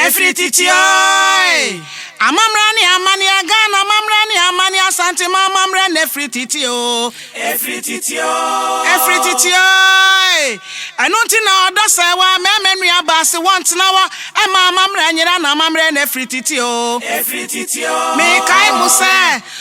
ɛfiri titiae amammerɛ ne amane a ghana amammerɛ ne amane asantema amammerɛ na ɛfiri titio ɛfiri titio ɛfiri titiae ɛno nti na ɔdɔ sɛ wa mɛmɛ nua baase wɔntena wa ɛma amammerɛ nyera na amammerɛ na ɛfiri titio ɛfiri titio mekae mo sɛ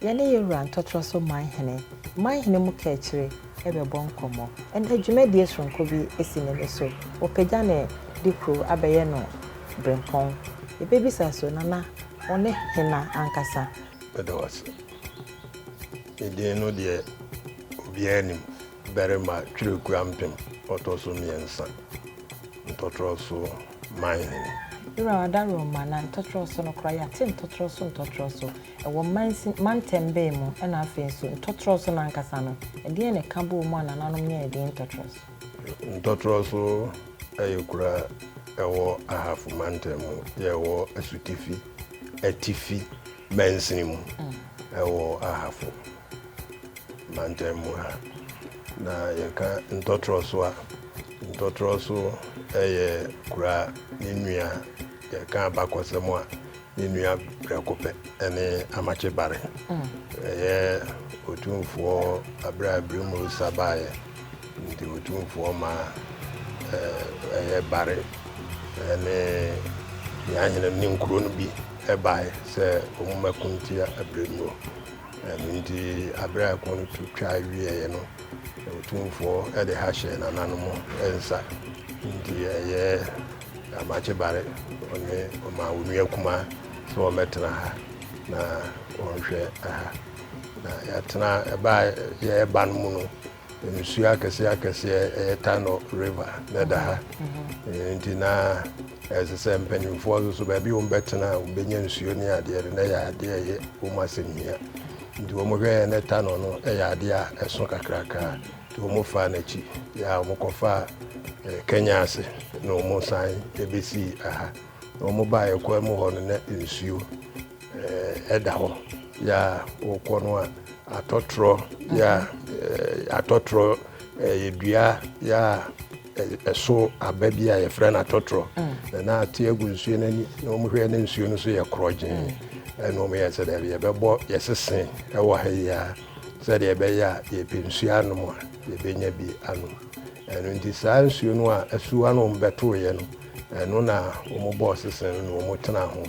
Yɛne yɛn wura ntɔtorɔ so man hene, man hene mu kaakyire, rebɛbɔ nkɔmmɔ. Ɛnnɛ dwumadie soronko bi si n'ani so. Wɔpagya no de kuro abɛyɛ no berempɔn. Yɛbɛbisa nso, Nana, wo ne hena ankasa? Meda wo ase. Me din no deɛ obiara nim, Barima Twerɛkuo Ampem, ɔtɔ so mmiɛnsa, ntɔtorɔ so man hene. Wura, w'adaworoma na ntɔtorɔ so no koraa, yɛate ntɔtorɔ so ntɔtorɔ so. Ɛwɔ mansin, mantam bɛn mu, ɛna afei nso, ntɔtorɔ so no ankasa no, ɛdeɛn na ɛka bɔɔ mu a nananom nyaa edin ntɔtorɔ so? Ntɔtorɔ so yɛ kuro a ɛwɔ Ahafo Mantam mu, deɛ ɛwɔ asutifi, atifi, mansin mu ɛwɔ Ahafo Mantam mu ha. Na yɛka ntɔtorɔ so a, ntɔtorɔ so yɛ kuro a ne nua, yɛka abakɔsɛm a, Ne nua prɛko pɛ ne Amakye Barre. Ɛyɛ Otumfoɔ abere a Brimosa baeɛ nti Otumfoɔ ma ɛyɛ Barre ne Nyanhene ne nkuro no bi baeɛ sɛ wɔmmɛko ntia Bremmo. Ɛno nti abere a ɛko no to twa wieeɛ no, Otumfoɔ de ha hyɛɛ nananom nsa nti ɛyɛ Amakye Bare, ɔne ɔmaa wɔn nua kumaa sɛ wɔmmɛtena ha na wɔnhwɛ ha. Na yɛatena, ɛbaa yɛreba no mu no, nsuo akɛseɛ akɛseɛ ɛyɛ Tano River na ɛda ha. Nti na ɛsɛ sɛ mpanimfoɔ nso so baabi wɔn bɛtena a wɔbɛnya nsuo ne adeɛ no na ɛyɛ adeɛ a ɛyɛ wɔn asɛnhia. Nti wɔn hwɛɛ na Tano no ɛyɛ adeɛ a ɛso kakrakra. Wɔfaa no akyi a wɔkɔfaa Kenya ase na wɔsan bɛsii ha. Na wɔbaeɛ kwan mu hɔ no na nsuo da hɔ yɛ a wokɔ no a atɔtorɔ yɛ a atɔtorɔ yɛ dua yɛ a ɛso aba bi a yɛfrɛ no atɔtorɔ mm. na na ate agu nsuo no ani na wɔhwɛ na nsuo no so yɛ korɔgyee mm. ɛna wɔyɛ sɛ daabi yɛbɛbɔ yɛsese ɛwɔ ha yi a sɛdeɛ ɛbɛyɛ a yɛpɛ nsuo anom a, yɛbɛnya bi anom. Ɛno nti saa nsuo no a asuwa no wɔn bɛtoeɛ no, ɛno na wɔn bɔɔ sesɛn no na wɔn tenaa ho.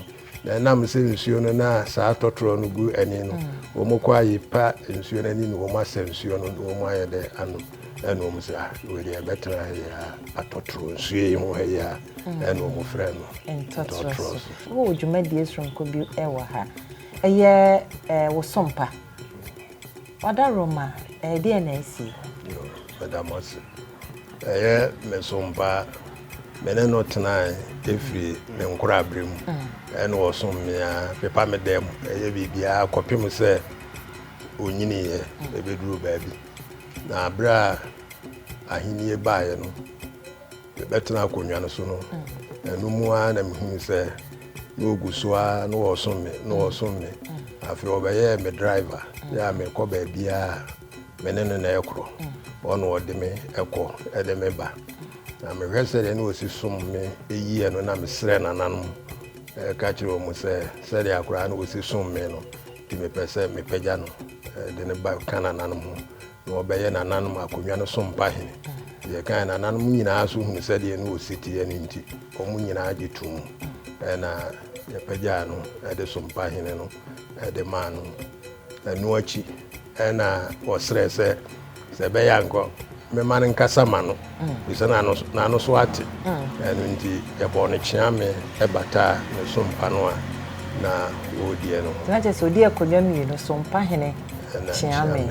Na ɛnam sɛ nsuo no na saa tɔtorɔ no gu ani no, wɔn kɔ a yɛpa nsuo no ani na wɔn asa nsuo no na wɔn ayɛ dɛ anom. Ɛna wɔn sɛ, ah, wei deɛ ɛbɛtena ha yɛ a, atɔtorɔ nsuo yi ho ha yɛ a, ɛna wɔn frɛ no ntɔtorɔ so. Wowɔ dwumadie soronko bi wɔ ha. Ɛyɛ eh, wo sompa. Wada Roma, ɛdeɛn na asi? Yoo, meda mo ase. Ɛyɛ me som paa. Me ne no tenae firi ne nkorabere mu. Ɛna ɔsom me ara, pepa me dan mu, ɛyɛ biribiara kɔpem sɛ ɔnyiniiɛ ɛbɛduruu baabi. Na berɛ a ahennie baeɛ no, Mebɛtenaa akonnwa no so no, ɛno mu ara na mehunu sɛ na ɔgu so ara na wɔsom me na wɔsom me. Afei ɔbɛyɛɛ me driver, yɛ a mekɔ baabiara me ne no na ɛkorɔ. Ɔna ɔde me ɛkɔ ɛde me ba. Na mehwɛ sɛdeɛ na ɔsi som me yie no na mesrɛ nananom ɛka kyerɛ wɔn sɛ sɛdeɛ akoraa na ɔsi som me no nti mepɛ sɛ mepagya no de no ba Canada nom. Na wɔbɛyɛ nananom akonnwa no so mpahene. Deɛ ɛkae nananom nyinaa nso hunu sɛdeɛ na ɔsi teɛ no nti, wɔn nyinaa gye toom. Ɛnna yɛpagyaa no de so mpahene no de maa no. Ɛno akyi na ɔsrɛɛ sɛ, Sɛ ɛbɛyɛ a anka mɛma no nkasa ma no. efisɛ na n'ano so ate, ɛno nti yɛbɔɔ no kyea mee bataa ne so mpa no a na ɔrediɛ no ho. Na kyerɛ sɛ ɔdii akonnwa mmienu so mpa hene kyea mee.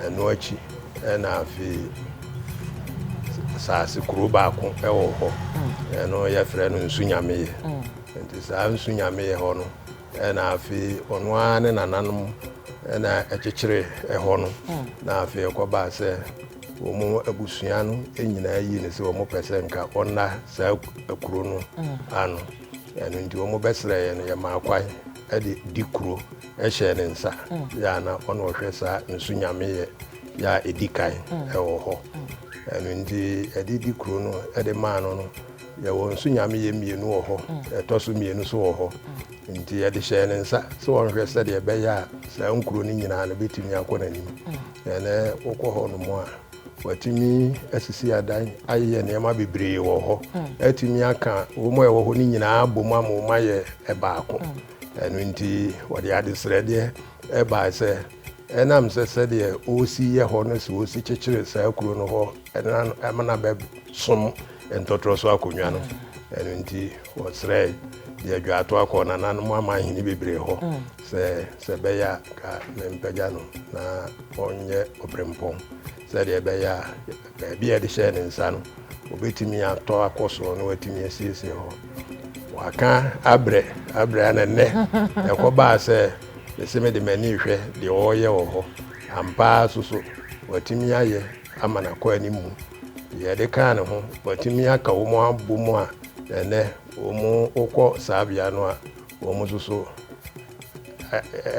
Ɛno akyi na afei saase kuro baako wɔ hɔ, ɛno yɛfrɛ no nsu nyameyɛ. Nti saa nsu nyameyɛ hɔ no na afei ɔno ara ne nananom na ɛkyekyere hɔ no na afei ɛkɔbaa sɛ Wɔn abusua no nyinaa yii no sɛ wɔpɛ sɛ nka ɔnna saa kuro no ano. Ɛno nti wɔbɛsrɛ yɛn no yɛmaa kwan de di kuro hyɛɛ ne nsa. Yɛ a na ɔna ɔhwɛ saa nsu nyameyɛ yɛ a ɛdi kan wɔ hɔ. Ɛno nti ɛde di kuro no de maa no no yɛwɔ nsu nyameyɛ mmienu wɔ hɔ, ɛtɔ so mmienu so wɔ hɔ. Nti yɛde hyɛɛ ne nsa sɛ ɔnhwɛ sɛdeɛ ɛbɛyɛ a saa nkuro no nyinaa no bɛtumi akɔ n'anim. Na ne wokɔ hɔnom a, watumi asisi adan ayeyɛ nneɛma bebree wɔ hɔ atumi aka wɔn a ɛwɔ hɔ no nyinaa bom ama wɔn ayɛ ɛbaako ɛno nti wɔde adesrɛdeɛ ɛbae sɛ ɛnam sɛ sɛdeɛ ɔresi yɛ hɔ no sɛ ɔsi kyekyere saa kuro no hɔ ɛna ɛmana bɛsom ntɔtorɔ so akonnwa no ɛno nti wɔsrɛe deɛ adwaato akɔ nananom ama ahene bebree hɔ sɛ sɛ ɛbɛyɛ a anka mempagya no na ɔnyɛ ɔberempɔn sɛdeɛ ɛbɛyɛ a baabi a yɛde hyɛɛ ne nsa no, ɔbɛtumi atɔ akɔ soro na watumi asiesie hɔ. Waka abrɛ abrɛ a na nnɛ ɛkɔbaa sɛ mese mede m'ani rehwɛ deɛ ɔreyɛ wɔ hɔ. Ampa ara nso so, watumi ayɛ ama no akɔ anim mu. Deɛ ɛde kaa ne ho, watumi aka wɔn abom a ɛnnɛ wɔn wokɔ saa bea no a Wɔn nso so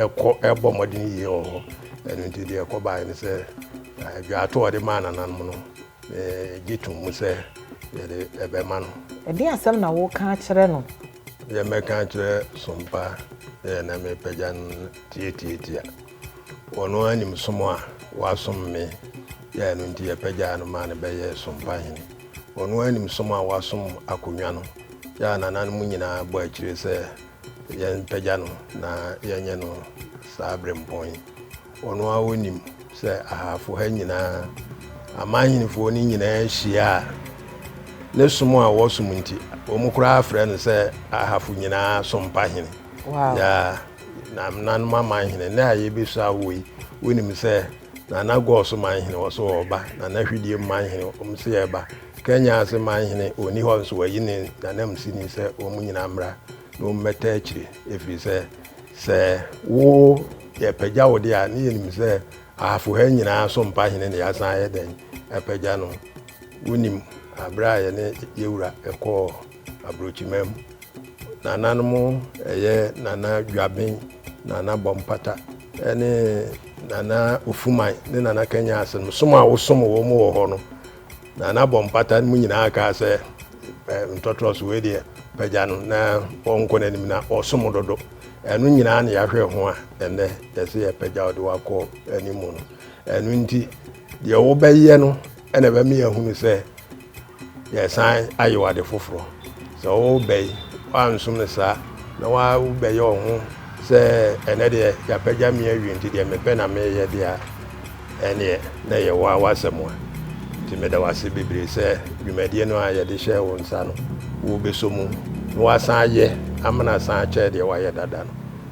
ɛkɔ ɛbɔ mmɔden yie wɔ hɔ. Ɛno nti deɛ ɛkɔ baeɛ ne sɛ adwaato a ɔde maa nananom no, megye tom mu sɛ yɛde ɛbɛma no. Ɛdeɛn asɛm na woreka akyerɛ no? Deɛ mɛka akyerɛ Sompa yɛ na mepagya no tiatiatia. Ɔno ara nim som a wasom me, yɛ ɛno nti yɛpagyaa no maa no bɛyɛɛ Sompahene. Ɔno ara nim som a wasom akonnwa no. Yɛ a nananom nyinaa bɔ akyire sɛ yɛmpagya no na yɛnyɛ no saa berempɔn yi. Ɔno ara ɔnim sɛ ahafo ha nyinaa, amanhenifoɔ no nyinaa hyia a, ne som a wɔsom nti, wɔn koraa frɛ no sɛ ahafo nyinaa sompa hene. Wow. Yɛ a nananom amanhene, nnɛ a yɛbɛsua wo yi, wonim sɛ Nana Gor so manhene wɔ so ɔɔba Nana Hwidie mu manhene wɔn se ɛɛba Kenya ase manhene ɔnni hɔ nso wayi ne nanamsini sɛ wɔn nyinaa mmra na wɔn mmɛta akyire ɛfiri sɛ sɛ wo yɛpagya wo deɛ a ne yɛnim sɛ ahafo ha nyinaa so mpahene na yɛasan ayɛ dɛn apagya no wonim aberɛ a yɛne yɛwura ɛkɔɔ Abrokyimam, nananom ɛyɛ Nana Dwaben, Nana Bɔmpata ne Nana Ofuman ne Nana Kanya ase no som a wosom wɔn wɔ hɔ no Nana Bɔmpata no mu nyinaa kaa sɛ ntɔtrɔ so wei deɛ pagya no na ɔnkɔ n'anim na ɔsom dodo ɛno nyinaa na yɛahwɛ ho a ɛnɛ yɛsɛ yɛpagya ɔde wakɔ anim no ɛno nti deɛ wobɛyɛ no Ɛna ɛbɛma yɛahunu sɛ yɛresan ayew ade foforɔ. Sɛ worebɛ yi, woansom no saa na wobɛyɛ wo ho sɛ ɛnɛ deɛ yɛapagya me awie nti deɛ mepɛ na meyɛ deɛ a, ɛneɛ na ɛyɛ wo ara w'asɛm a. Nti meda wo ase bebree sɛ dwumadie no a yɛde hyɛɛ wo nsa no, wobɛsɔ mu na woasan ayɛ ama no asan akyɛɛ deɛ woayɛ dada no.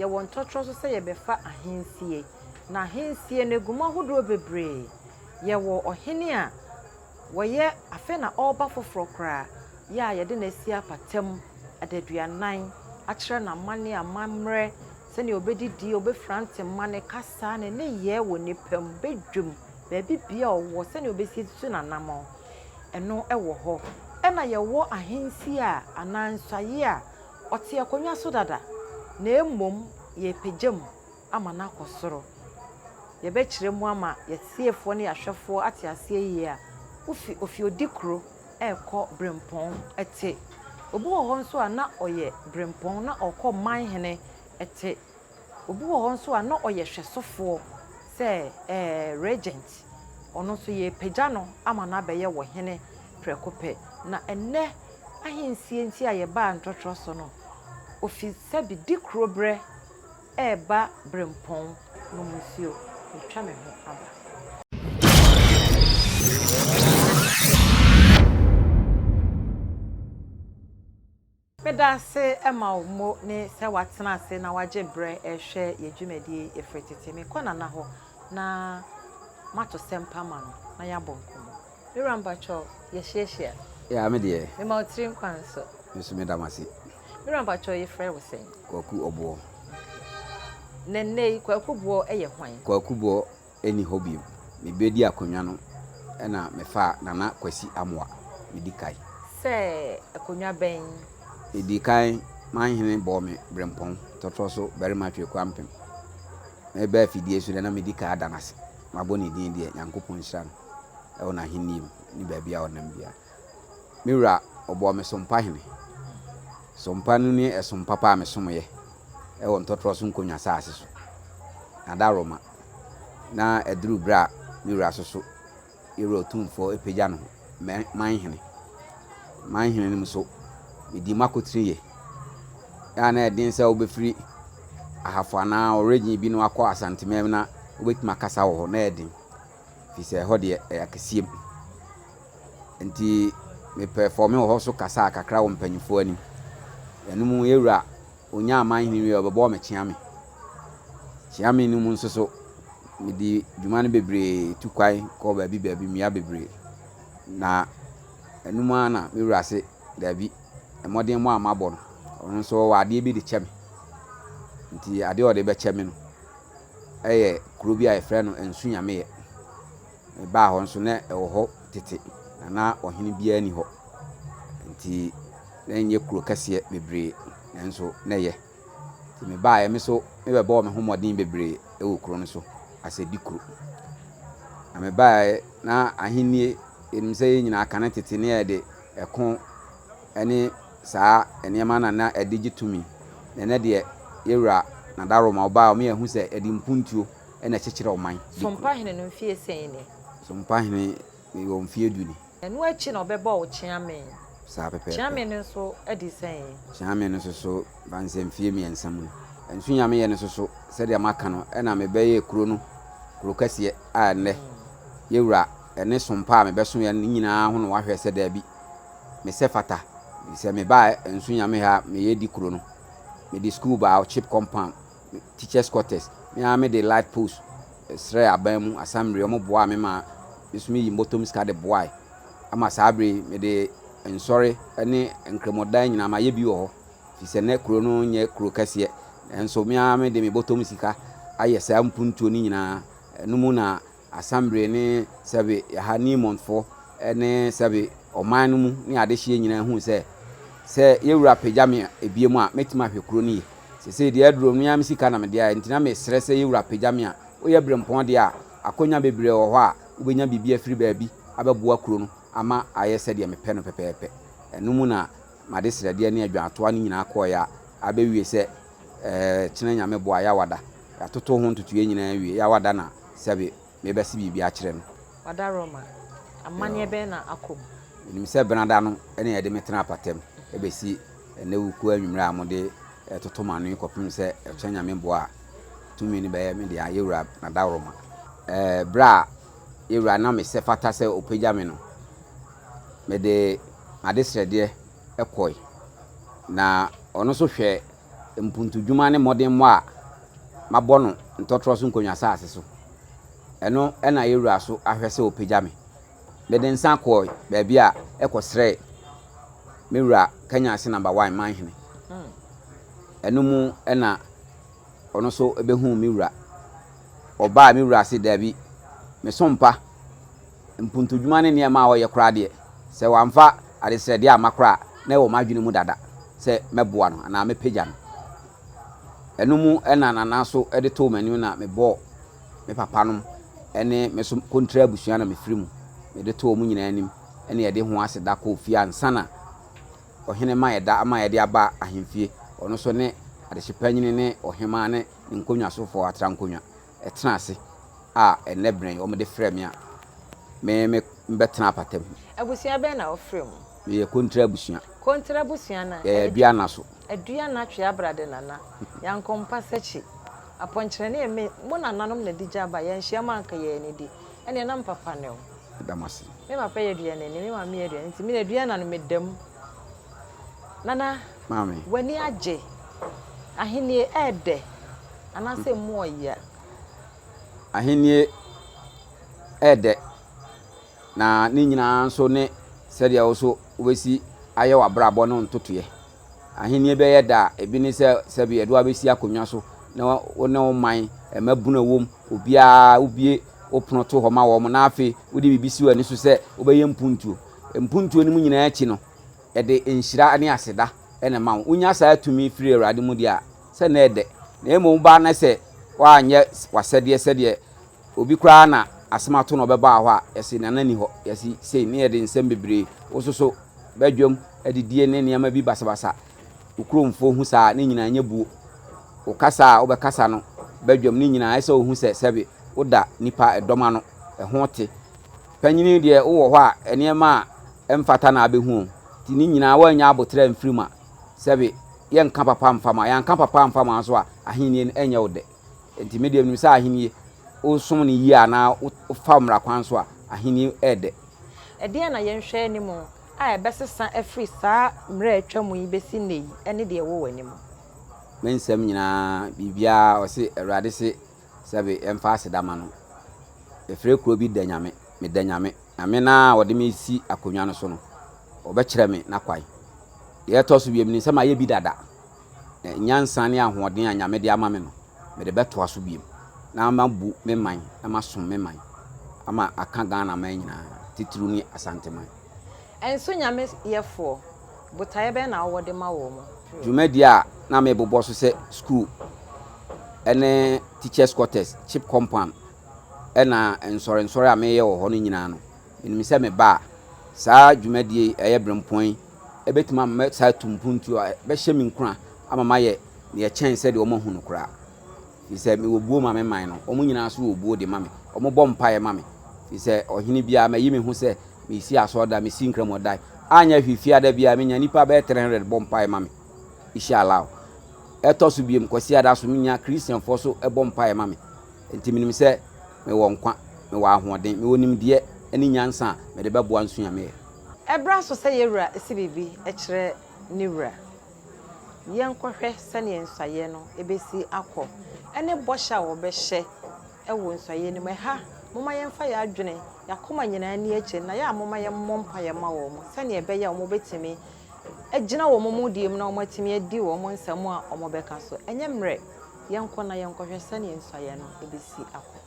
Yɛwɔ ntɔtorɔ nso sɛ yɛbɛfa ahensie. Na ahensie no ɛgu mu ahodoɔ bebree. Yɛwɔ ɔhene a wɔyɛ afei na ɔreba foforɔ koraa yɛ a yɛde no asi apata mu adaduanan akyerɛ no amanneɛ, amammerɛ, sɛdeɛ ɔbɛdidie, ɔbɛfira ntoma, ne kasa, ne nneyɛɛ wɔ nnipa mu, badwam, baabi bia ɔwɔ, sɛdeɛ ɔbɛsisi n'anamɔn. Ɛno ɛwɔ hɔ. Ɛna yɛwɔ ahensie a anaa nsaeɛ a Ɔte akonnwa so dada, na mmom yɛrepagya mu ama no akɔ soro. Yɛbɛkyerɛ mu ama yɛn tiefoɔ ne yɛn ahwɛfoɔ ate aseɛ yie a, wofi Ofiodikuro rekɔ Brempɔn te. Obi wɔ hɔ nso a na ɔyɛ Brempɔn na ɔrekɔ Manhene te. Obi wɔ hɔ nso a na ɔyɛ hwɛsofoɔ sɛ ɛɛ regent. Ɔno nso yɛrepagya no ama no abɛyɛ wɔ hene prɛko pɛ. Na ɛnnɛ ahensie nti a yɛbaa ntɔtorɔ so no, ofi sɛbi Dikuroberɛ reba Berempɔn nom nsuo. Yɛatwa me ho aba. Meda ase ma wo mo ne sɛ woatena ase na woagye berɛ rehwɛ yɛn dwumadie yi ɛfiri tete. Mekɔ Nana hɔ na mato sɛmpa ama no na yɛabɔ nkɔmmɔ. Me wura mpakyɛw yɛhyiahyia? Yaa me deɛ. Mema wo tiri nkwa nso. Me nso meda mo ase. Me wura mpakyɛw yɛfrɛ wo sɛn? Kwaku Ɔboɔ. Na nnɛ yi Kwaku Boɔ yɛ hwan? Kwaku Boɔ nni hɔ bio. Mebedi akonnwa no na mefaa Nana Kwasi Amoah, medi kae. Sɛ akonnwa bɛn? Medi kan Manhene bɔɔ me berempɔn tɔtrɔ so barima Tweku Ampem. Meba afidie so deɛ na medi kae ada no ase. Mabɔ ne din deɛ Nyankopɔn nhyira no wɔ n'ahennie mu ne baabi a ɔnam biara. Me wura ɔbɔɔ me Sompahene. Sompa no ne ɛsom papa a mesomyɛ wɔ ntɔtrɔ so nkonnwa saase so. Nada Roma. na ɛduruu berɛ a me wura so so, yɛn Wura Otumfoɔ apagya no mɛ man hene. Man hene no mu so, medii m'akotene yie. Yɛ na ɛden sɛ wobɛfiri Ahafo anaa Ɔregyen bi no akɔ Asantemɛm na wobɛtumi akasa wɔ hɔ, na ɛyɛ den, firi sɛ ɛhɔ deɛ ɛyɛ akɛseɛ mu. Nti mepɛfɔɔme wɔ hɔ so kasaa kakra wɔ mpanyinfoɔ anim. Ɛno mu yɛn Wura Ɔnyaa amanhene wieeɛ a, ɔbɛbɔɔ me kyeame. Kyeame no mu nso so, medii dwuma no bebree, tu kwan kɔɔ baabi baabi, mmea bebree. Na ɛno mu ara na me wura se, Dabi, mmɔdemmɔ a mabɔ no, ɔno nso ɔwɔ adeɛ bi de kyɛ me. Nti adeɛ a ɔde bɛkyɛ me no yɛ kuro bi a yɛfrɛ no Nsu Nyameɛ. Mebaa hɔ nso, na ɛwɔ hɔ tete, na na ɔhene biara nni hɔ. Enti na ɛnyɛ kuro kɛseɛ bebree, nanso na ɛyɛ. Enti mebaeɛ, me nso mebɛbɔɔ me ho mmɔden bebree wɔ kuro no so as a Dikuro. Na mebaeɛ, na ahennie, yɛnim sɛ yɛn nyinaa kane tete na yɛde ɛko ne saa nneɛma na na ɛde gye tumi. Na ɛnɛ deɛ, yɛwura Nada Roma, ɔbaa a, wɔyɛ ahu sɛ yɛde mpuntuo. na ɛkyekyerɛ ɔman de kuro. Sompahene no mfeɛ sɛn ni? Sompahene wɔ mfeɛ du ni. Ɛno akyi na ɔbɛbɔɔ Kyeame. Saa pɛpɛɛpɛ. Kyeame no nso adi sɛn? Kyeame no nso so, mfa no sɛ mfeɛ mmiɛnsa mu ni. Nsunyameyɛ no nso so, sɛdeɛ maka no, ɛna mebɛyɛɛ kuro no kuro kɛseɛ a ɛnnɛ yɛwura ɛne Sompa a mebɛsoeɛ no nyinaa ho na wɔahwɛ sɛ daabi, mesɛ fata. Sɛ mebaa Nsunyameyɛ a, meyɛ di kuro no. Mede sukuu baa Ɔkyep compound teachers quarters, me ara me de life post srɛɛ aban mu asambre, wɔn boaa me ma me nso me yi mbɔtɔm sika de boae, ama saa bere yi me de nsɔre ne nkramodan nyinaa ma yɛ bi wɔ hɔ, firi sɛ na kuro no nyɛ kuro kɛseɛ, nanso me ara me de me bɔtɔm sika ayɛ saa mpuntuo no nyinaa, ɛno mu na. Assemble ne sɛbe ha Nemontfo ne sɛbe ɔman no mu ne adehyeɛ nyinaa huu sɛ, sɛ yɛ wura pagya me ebiem a, mɛtumi ahwɛ kuro no yie. Sesei deɛ aduro no, me ara me sika na mede ayɛ, nti na mesrɛ sɛ yɛ wura pagya me a, woyɛ berempɔn deɛ a, akonya bebree wɔ hɔ a, wobɛnya biribi afiri baabi abɛboa kuro no ama ayɛ sɛdeɛ mepɛ no pɛpɛɛpɛ. Ɛno mu na m'adesrɛdeɛ ne adwaatoa no nyinaa kɔeɛ a, abɛwie sɛ, Kyena Nyame boa Yawada yatoto ho ntotoeɛ nyinaa awie Yawada na sɛbe mebɛse biribi akyerɛ no. Wada Roma, amaneɛ bɛn na akɔ mu? Menim sɛ Benada no na yɛde me tenaa apatam bɛsi ɛnɛ wukuo anwummerɛ a mode toto m'ano yi kɔpem sɛ Kyena Nyame boa a tumi no bɛyɛ me dea Yɛwura Nada Roma. Berɛ a Yɛwura nam sɛ fata sɛ ɔpagya me no mede m'adesrɛdeɛ kɔe, na ɔno nso hwɛ mpuntudwuma ne mmɔdemmɔ a mabɔ no ntɔtorɔ so nkonnwa saase so. Ɛno na yɛn wura so ahwɛ sɛ ɔpagya me. Mede nsa kɔe baabi a ɛkɔsrɛe me wura Kanyase Number One Manhene. Hmm. Ɛno mu na ɔno nso bɛhuu me wura. Ɔbaa me wura ase daabi, mesompa. mpontodwuma ne nneɛma a ɔyɛ koraa deɛ, sɛ wamfa adesrɛdeɛ amma koraa a, na ɛwɔ m'adwene mu dada sɛ mɛboa no anaa mɛpagya no. Ɛno mu na Nana nso de too m'anim na mebɔɔ me papanom ne me nso kontre abusua na mefiri mu. Mede too wɔn nyinaa anim na yɛde ho aseda kɔɔ fie ansa na ɔhene ma yɛda ama yɛde aba ahemfie, ɔno nso ne adehyepanyini ne ɔhemaa ne ne nkonnwasofoɔ atrankonnwa. ɛtena ase a ɛnnɛ bere yi wɔde frɛ me a, me me bɛtena apata mu. Abusua bɛn na wofra mu? Meyɛ Kontra abusua. Kontra abusua no a. Yɛyɛ Aduana so. Aduana Tweabrade Nana, Yanko Mpasakyi, Apɔnkyerɛ ne me, mo nananom na ɛde gya ba, yɛanhyia mu a anka yɛn ani di. Ɛnneɛ na me papa ne wo. Meda mo ase. Me papa yɛ aduanani, me maame yɛ aduanani nti me ne Aduana no meda mu. Nana, w'ani agye? Ahenni yɛ dɛ anaasɛ emu yɛ ya? Ahenni yɛ dɛ, na ne nyinaa nso ne sɛdeɛ wo nso wobɛsi ayɛ w'abrabɔ no ntotoeɛ. Ahenni bɛyɛ dɛ a, ebi ne sɛ sɛdeɛ yɛde wo abɛsi akonnwa so na wo ne wo man, mmabunu a ɛwom, obiara wobue wo pono to hɔ ma wɔn, na afei wode biribi si w'ani so sɛ wobɛyɛ mpuntuo. Mpuntuo no mu nyinaa akyi no, ɛde nhyira ne aseda na ɛma wo. Wonya saa tumi firi Awurade mu deɛ a, sɛ nnɛ yɛ dɛ. Na mmom woba na sɛ woanyɛ w'asɛdeɛ sɛdeɛ obi koraa na asɛm ato no ɔbɛbaa hɔ a, yɛse Nana nni hɔ, yɛse sei, ne yɛde nsɛm bebree, wososo badwam adidie ne nneɛma bi basabasa. Wo kuromfoɔ hu saa a, ne nyinaa nyɛ buo. Wo kasa a wobɛkasa no badwam, ne nyinaa ɛsɛ sɛ wohu sɛ sɛbe woda nnipa dɔm ano, ɛho te. Panyini deɛ wowɔ hɔ a, nneɛma a mfata na abehu wɔn. Nti ne nyinaa wɔannya aboterɛ amfiri mu a, sɛbe yɛnka papa mfa ma, yɛanka papa amfa ma nso a, ahennie no ɛnyɛ wo dɛ. Nti me deɛ menim sɛ ahennie, wosom no yie anaa wofa mmara kwan so a, ahennie ɛyɛ dɛ. Ɛdeɛn na yɛnhwɛ anim a ɛbɛsesa afiri saa mmerɛ a atwa mu yi bɛsi nnɛ yi ne deɛ ɛwɔ w'anim? Me nsɛm nyinaa, biribiara, ɔse, Awurade se, Sɛbe yɛmfa aseda ma no. Yɛfrɛ kuro bi Danyame, Meda Nyame, Nyame no a ɔde me resi akonnwa no so no, ɔbɛkyerɛ me n'akwan. Deɛ ɛtɔ so biom nim sɛ mayɛ bi dada, na nyansa ne ahoɔden a Nyame de ama me no, mede bɛtoa so biom na mabu me man na masom me man ama aka Ghana man nyinaa, titiriw ne Asanteman. Nso Nyame yɛfoɔ, botaeɛ bɛn na wowɔ de ma wɔn? Dwumadie a na mebobɔ so sɛ sukuu ne teachers quarters, chip compound, ɛna nsɔrensɔre a meyɛ wɔ hɔ no nyinaa no, menim sɛ meba a, saa dwumadie yi ɛyɛ berempɔn yi, ɛbɛtumi ama mɛsan atu mpuntuo a ɛbɛhyɛ me nkuran ama mayɛ deɛ ɛkyɛn sɛdeɛ wɔahu no koraa. Firi sɛ mewɔ buo ma me man no, wɔn nyinaa nso wɔ buo de ma me. Wɔbɔ mpaeɛ ma me. Firi sɛ ɔhene biara, mayi me ho sɛ mesi asɔredan, mesi nkramodan. Anyɛ hwee, Fiada biara, menya nnipa bɛyɛ 300 bɔ mpaeɛ ma me. Ishallah. Ɛtɔ so biom, Kwasiada nso, menya Christianfoɔ nso bɔ mpaeɛ ma me. Enti menim sɛ mewɔ nkwa, mewɔ ahoɔden, mewɔ nimdeɛ ne nyansa a mede bɛboa nso a meyɛ. Ɛbra so sɛ yɛn wura si biribi kyerɛ ne wura. Yɛnkɔhwɛ sɛdeɛ nsɔeɛ no bɛsi akɔ ne bɔhyɛ a wɔbɛhyɛ wɔ nsɔeɛ no mu. Ɛha, momma yɛmfa yɛn adwene, yɛn akoma nyinaa nni akyire na yɛ a momma yɛmmɔ mpaeɛ mma wɔn sɛdeɛ ɛbɛyɛ a wɔbɛtumi agyina wɔn mudie mu na wɔatumi adi wɔn nsɛm a wɔbɛka so. Ɛnyɛ mmerɛ, yɛnkɔ na yɛnkɔhwɛ sɛdeɛ nsɔeɛ no bɛsi akɔ.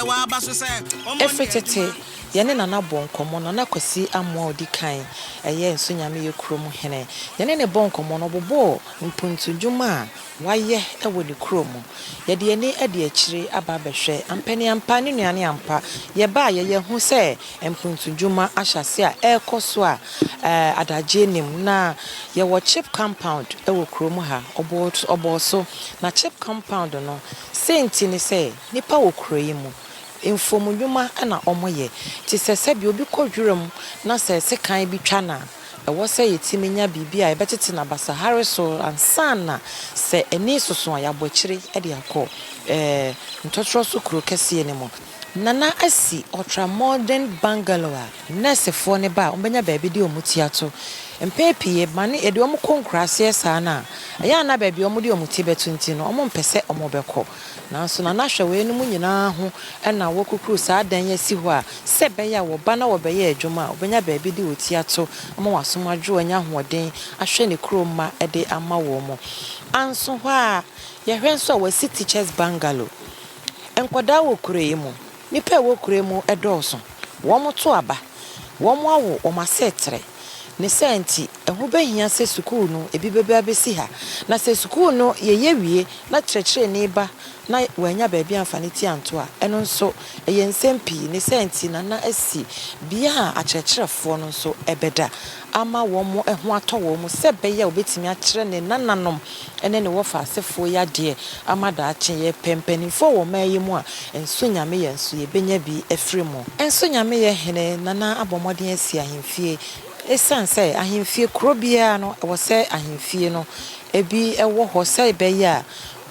Ɛfiri tete, yɛne Nana bɔɔ nkɔmmɔ. Nana Kwasi Amoah a ɔdi kan, ɛyɛ Nso Nyameyɛ kurom hene. Yɛne no bɔɔ nkɔmmɔ no, ɔbobɔɔ mpuntu nnwuma a wayɛ wɔ ne kurom. Yɛde yɛn ani adi akyire aba abɛhwɛ. Ampa ne ampa, ne nnuane ampa. Yɛbaeɛ, yɛahu sɛ mpuntu nnwuma ahyɛ aseɛ a ɛrekɔ so a adagyeɛ nnim. Na yɛwɔ chip compound wɔ kurom ha. Ɔbɔɔ so. Na chip compound no, sei nti ne sɛ, Nnipa wɔ kuro yi mu. Mfuom nnwuma na wɔyɛ. Te sɛ sɛdeɛ obi kɔ wiram na sɛ sekan bi twa no a, ɛwɔ sɛ yɛtumi nya biribi a yɛbɛtete no abasahare so ansa na sɛ ani resoso a yɛabɔ akyire de akɔ ntɔtorɔ so kuro kɛseɛ no mu. Nana asi ɔtramɔden bangalow a nɛɛsefoɔ no ba a wɔbɛnya baabi de wɔn ti ato. Mpɛn pii ɛba no yɛde wɔn kɔ nkuraaseɛ saa no a, ɛyɛ a na baabi a wɔde wɔn ti bɛto nti no wɔmpɛ sɛ wɔbɛkɔ. Nanso na na hwɛ weinom nyinaa ho na wɔakukuru saa dan yi asi hɔ a, sɛ ɛbɛyɛ a wɔba na wɔbɛyɛ adwuma a, wɔbɛnya baabi de otua to ama wɔn asom adwo, anya ahoɔden ahwɛ ne kurom mma de ama wɔn. Anso hɔ ara, yɛhwɛ nso a, wɔasi Teachers Bungalow. Nkwadaa wɔ kuro yi mu. Nnipa a ɛwɔ kuro yi mu dɔɔso, wɔto aba, wɔawo wɔn asetre. Ne saa nti, ɛho bɛhia sɛ sukuu no bi bɛba abɛsi ha. Na sɛ sukuu no yɛyɛ wie na kyerɛkyerɛni ba na wannya baabi amfa ne ti anto a, ɛno nso ɛyɛ nsɛm pii. Ne saa nti na na asi bea a akyerɛkyerɛfoɔ no nso bɛda ama wɔn ho atɔ wɔn sɛ ɛbɛyɛ a wɔbɛtumi akyerɛ ne nananom ne ne wɔfa asefoɔ yɛ adeɛ ama daakye. Yɛpɛ mpaninfoɔ wɔ ɔman yi mu a, nso Nyameyɛ nso yɛbɛnya bi afiri mo. Nso Nyameyɛ hene Nana abɔ mmɔden asi ahemfie. Ɛsiane sɛ ahemfie, kuro biara no ɛwɔ sɛ ahemfie no ɛbi ɛwɔ hɔ sɛ ɛbɛyɛ a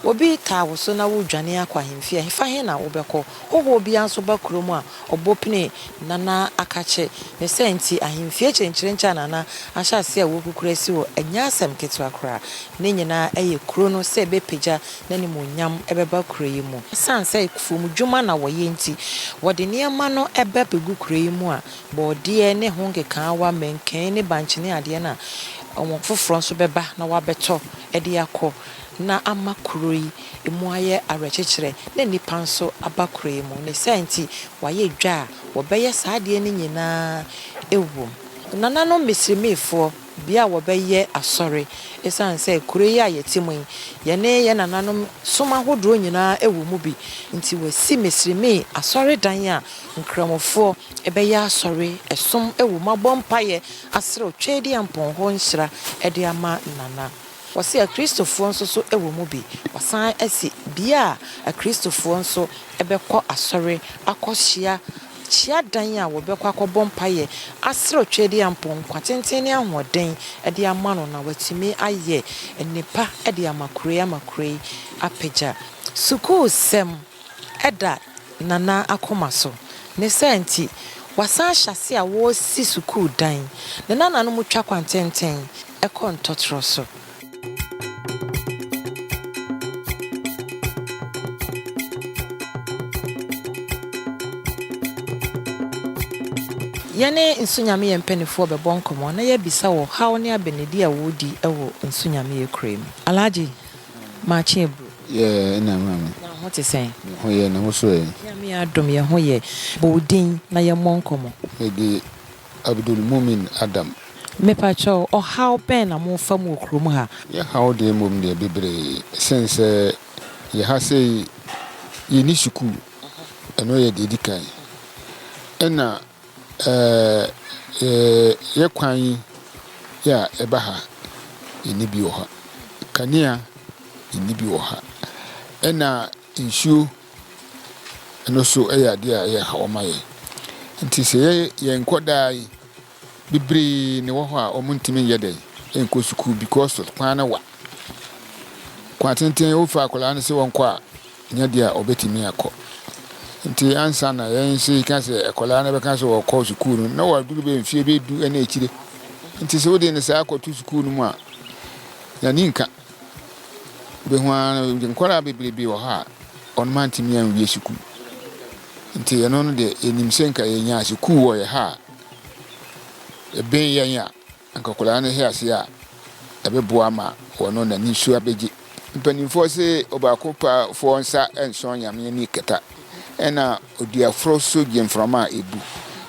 obi taa wo so na woredwane akɔ ahemfie a, ɛhefa he na wobɛkɔ? Hohoɔ biara nso ba kuro mu a, Ɔbɔ penee Nana Akakye ne sɛ nti ahemfie kyenkyerenkye a Nana ahyɛ aseɛ a wɔrekukuru asi hɔ nyɛ asɛm ketewa koraa. Ne nyinaa yɛ kuro no sɛ ɛbɛpagya n'animuonyam bɛba kuro yi mu. Ɛsiane sɛ afuomudwuma na wɔyɛ nti, wɔde nneɛma no ba bɛgu kuro yi mu a, borɔdeɛ ne ho nkekaawa, mankani ne bankye ne adeɛ no a wɔn foforɔ nso bɛba na wɔabɛtɔ de akɔ na ama kuro yi. Emu ayɛ awerɛkyekyerɛ na nnipa nso aba kuroe mu, ne saa nti wɔayɛ dwa a wɔbɛyɛ saa adeɛ no nyina ara wom. Nananom Misrimifoɔ bi a wɔbɛyɛ asɔre ɛsiane sɛ kuro yi a yɛte mu yi, yɛne yɛn nananom som ahodoɔ nyina ara wɔ mu bi nti, wɔasi Misrimi asɔredan a Nkramofoɔ bɛyɛ asɔre som wɔ mu abɔ mpaeɛ asrɛ Otwaadiampɔn hɔ nhyira de ama Nana. Wɔse akristofoɔ nso so wɔ mu bi. Wɔsan se bia a akristofoɔ nso bɛkɔ asɔre akɔ hyia kyia dan a wɔbɛkɔ akɔbɔ mpaeɛ asrɛ Otwedeampɔn nkwa tenten ne ahoɔden de ama no na watumi ayɛ nnepa de ama kuro yi ama kuro yi apagya. Sukuu sɛm da Nana akoma so. Ne saa nti wasan ahyɛase a wɔresi sukuu dan. Ne nananom twa kwantenten. kɔ ntɔtorɔ so. Yɛne Nsu Nyameyɛ mpanimfoɔ bɛbɔ nkɔmmɔ na yɛabisa wɔ haw ne abɛnedi a wɔredi wɔ Nsu Nyameyɛ kurow yi mu. Alhaji, Maakye aburo. Yɛɛ ɛna maame. Na wo ho te sɛn? Me ho yɛ, ne ho so ɛ? Nyame adom yɛ ho yɛ. Bɔ wo din na yɛmmɔ nkɔmmɔ. Mede Abdulmumin Adam. Mepa kyɛw, ɔhaw bɛn na mo fa mu wɔ kurom ha? Yɛn haw deɛ mmom deɛ bebree, sɛn sɛ yɛ ha sei yɛ nni sukuu, ɛno yɛ deɛ ɛdi kan, ɛna ɛɛɛ yɛ kwan yi yɛ a ɛba ha yɛ nni bi wɔ ha, kanea yɛ nni bi wɔ ha, ɛna. Nsuo no nso yɛ adeɛ a ɛyɛ haw ma yɛn. Nti sɛ yɛ yɛn nkwadaa yi bebree na ɛwɔ hɔ a wɔntumi nyɛ dɛ nkɔ sukuu because kwan no wa. Kwan tenten wofa akwadaa no sɛ wɔnkɔ a nyɛ deɛ a ɔbɛtumi akɔ. Nti ansa na yɛn nso yɛka sɛ akwadaa no bɛka sɛ wɔkɔ sukuu no na waduru bɛ mfie bɛdu ne akyire. Nti sɛ wode ne saa akɔto sukuu no mu a n'ani nka. Ibehu ara no, nkwadaa bebrebe wɔ hɔ a, wɔn antumi anwie sukuu. Nti ɛno no deɛ, yɛnim sɛ nka yɛnya sukuu wɔ yɛ ha a, ɛbɛn yɛn a, nka akwadaa no hwɛ ase a, ɛbɛboa ma wɔn n'ani nso abɛgye. Mpanimfoɔ se ɔbaako pa foɔ nsa nsɔ Nyame ani kɛtɛ, ɛna ɔduafoɔ nso gye mframa a ɛbu.